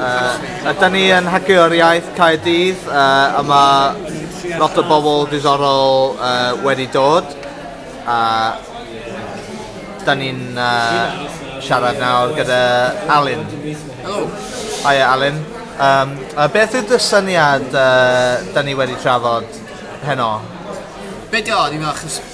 Uh, a da ni yn Hagio'r Iaith Caerdydd, uh, a mae lot o bobl diddorol uh, wedi dod. A da ni'n uh, siarad nawr gyda Alun. Helo. Hiya Alun. Um, a beth yw dy syniad uh, da ni wedi trafod heno? Be di o, ni'n meddwl,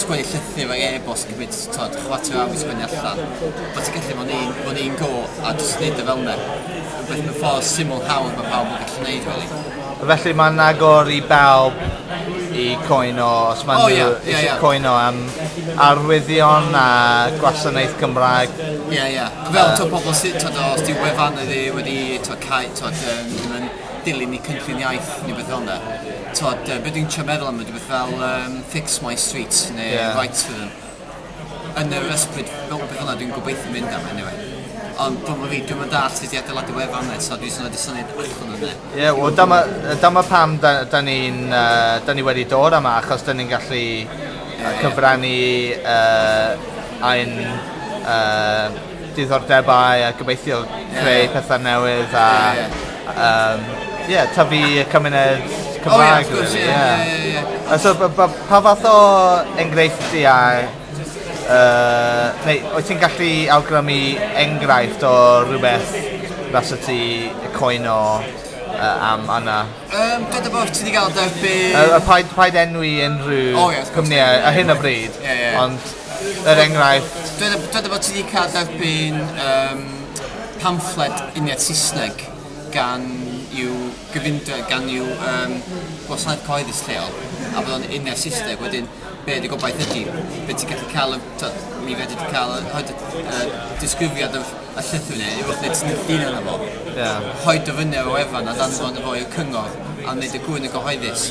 sgwennu llythyr ac e-bost yn cymryd tibod chwarter awr i sgwennu allan, bod ti'n gallu bod yn un un go a jyst gwneud o fel 'na. Rhywbeth mewn ffordd syml, hawdd mae pawb yn gallu gwneud rili. Felly mae'n agor i bawb i cwyno os maen nhw eisiau cwyno am arwyddion a gwasanaeth Cymraeg? Ie ie. Fel tibod pobl sy- tibod os 'di wefan wedi wedi tibod cau tibod yym dilyn eu cynllun iaith neu beth fel 'na. T'mod yy be' dwi'n trio meddwl am ydi beth fel yym Fix My Street ne'... Ie. ...Rights for Them. Yn yr ysbryd fel rwbeth fel 'na dwi'n gobeithio mynd am eniwe. Ond t'mo' fi dwi'm yn dallt sut i adeiladu wefan 'ne so dwi jys yn roid y syniad allan yne. Ie wel dyma yy dyma pam 'da- 'dan ni'n yy 'dan ni wedi dod yma achos 'dan ni'n gallu yy cyfrannu yy ein yy diddordebau a gobeithio creu pethau newydd a yym ie tyfu y cymuned Cymraeg rili ie. O ie wrth gwrs ie ie ie ie. A so b- b- pa fath o engreifftiau yy neu wyt ti'n gallu awgrymu enghraifft o rywbeth fasa ti yy cwyno yy am yna? Yym dod a bo' ti 'di ga'l dy be'... Yy yy paid paid enwi unrhyw... O ie wrth gwrs. ...cwmnïau ar hyn o bryd. Ie ie ie. Ond yr enghraifft? Dweda, dweda bod ti wedi cael derbyn um, pamffled uniad Saesneg gan i'w gyfundra, gan i'w um, gwasanaeth cyhoeddus lleol, a bod o'n uniad Saesneg, wedyn be dy gobaith ydy? Be ti'n gallu cael, tyd, mi fedri ti cael hyd y disgrifiad y, y llythyr neu rhywbeth neu ti'n ddyn yna fo. Yeah. Hoi dy fyny o efan a dan fod y fo i'r cyngor a wneud y gwy'n y gyhoeddus.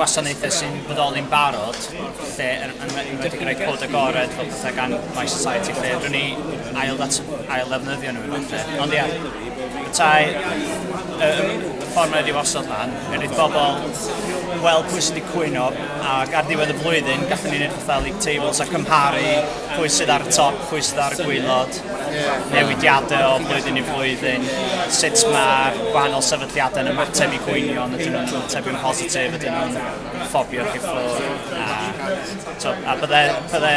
gwasanaethau sy'n bodoli'n barod, lle yn enwedig yn rhoi cod agored fel pethau gan My Society lle rwy'n ni ail ddefnyddio nhw yn falle. Ond ia, petai y ffordd mae wedi osod lan, er i'r bobl weld pwy sydd wedi cwyno ac ar ddiwedd y flwyddyn gallwn ni wneud fatha league tables a cymharu pwy sydd ar y top, pwy sydd ar y gwylod. newidiadau o flwyddyn i flwyddyn, sut mae'r gwahanol sefydliadau yn ymateb i gwynion, ydyn nhw'n ymateb yn positif, ydyn nhw'n ffobio chi ffwrdd, a, to, a bydde, bydde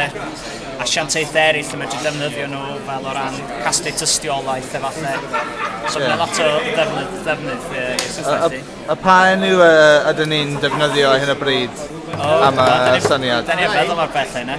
asiantaethau eraill yn medru defnyddio nhw fel o ran casglu tystiolaeth efallai. So yeah. mae lot o ddefnydd, ddefnydd uh, i'r system. A, pa enw uh, ydyn ni'n defnyddio ar hyn o bryd? Oh, am y syniad. Da ni'n meddwl o'r beth yna.